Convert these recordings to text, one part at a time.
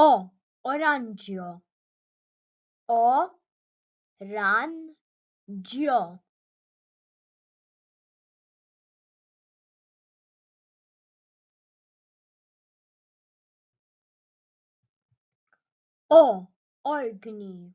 O oranġjo O ran ġjo O orgni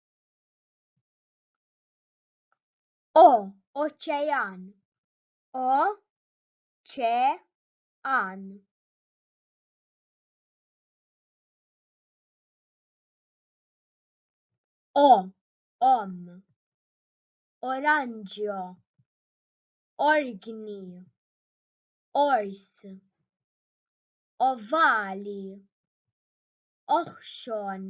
O oċean O ċe an O om oranġio orgni ors ovali oħxon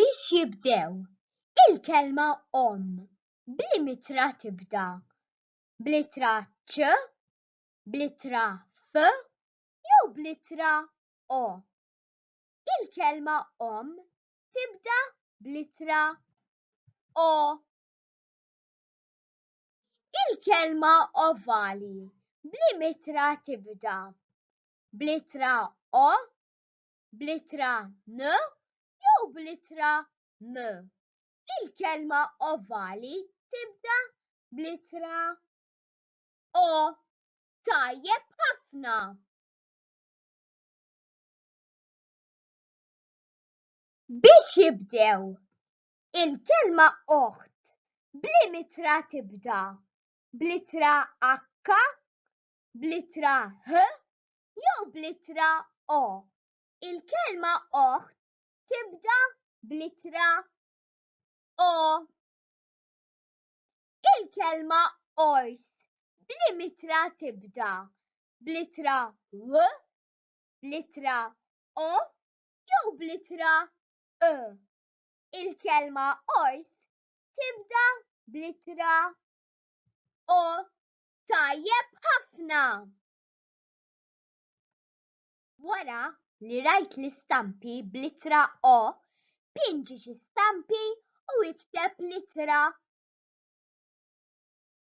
Biex jibdew, il-kelma omm bl-imitra tibda bl-ittra ċ, bl-ittra f jew bl-ittra o. Il-kelma omm tibda bl-ittra o. Il-kelma ovali bl-imitra tibda bl-ittra o, bl-ittra n jew bl-ittra m. Il-kelma ovali tibda bl-ittra o. Tajjeb ħafna! Biex jibdew, il-kelma oħt bl-im ittra tibda bl-ittra h bl-ittra h jew bl-ittra o. Il-kelma oħt tibda bl-ittra o. Il-kelma ors b'liema ittra tibda, bl-ittra w, bl-ittra o jew bl-ittra ë? Il-kelma ors tibda bl-ittra o. Tajjeb ħafna! Wara li rajt l-istampi bl-ittra O, pinġi xi stampi u ikteb l-ittra